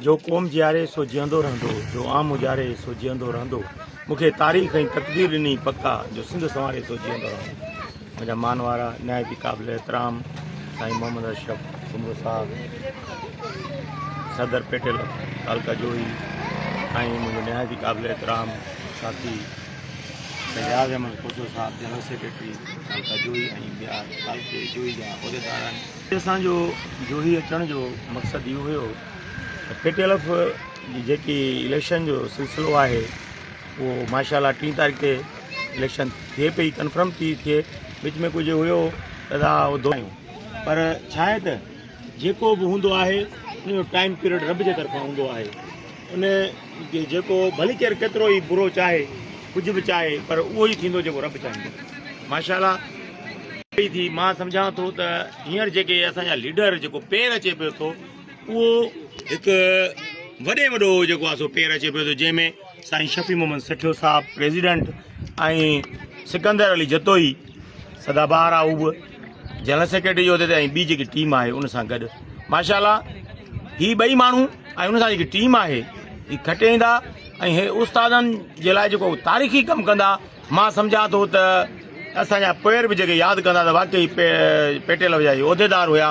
جو قوم جياري سو جيئندو رهندو، جو عام اجاري سو جيئندو رهندو، مون کي تاريخ ۽ تقدير ڏني پڪا جو سنڌ سنواري سو جيئندو رهندو. منهنجا مان وارا نهايت ئي قابل احترام سائين محمد اشرف سومرو صاحب، صدر پيٽل تعلقه جوهي ۽ منهنجو نهايت ئي قابل احترام ساٿي اياز احمد کوسو صاحب جنرل سيڪريٽري تعلقه جوهي ۽ ٻيا تعلقي جوهي جا عهديدار آهن. اسان جو جوهي اچڻ جو مقصد اهو هيو ته پي ٽي ايل ايف جي جيڪي اليڪشن جو سلسلو آهي اهو ماشا الله ٽي تاريخ تي اليڪشن ٿئي پئي ڪنفرم ٿي ٿئي وچ ۾ ڪجهه هيو ادا ادو پر ڇا آهي ته جيڪو به هوندو آهي ان جو ٽائيم پيريڊ رب جي طرفان هوندو آهي ان جيڪو ڀلي ڪير ڪيترو ئي برو چاهي ڪجهه به چاهي پر اهو ئي ٿيندو جيڪو رب چاهيندو ماشاءالله پئي ٿي مان سمجهان ٿو ته هينئر جيڪي اسان جا ليڊر جيڪو پير اچي پيو ٿو اهو هڪ وڏي وڏو جيڪو آسو پير اچي پيو ٿو جنهن ۾ سائين شفيع محمد سٺيو صاحب پريزيڊنٽ ۽ سڪندر علي جتوئي سدا بهار آهو جنرل سيڪريٽري جي عهدي تي ۽ ٻي جيڪي ٽيم آهي ان سان گڏ ماشاء الله هي ٻئي ماڻهو ۽ ان سان جيڪي ٽيم آهي هي کٽي ايندا ۽ هي استادن جي لاء جيڪو تاريخي ڪم ڪندا مان سمجهان ٿو ته اسان جا پير به جيڪي ياد ڪندا ته واقعي پيٽيل جا عهديدار هيا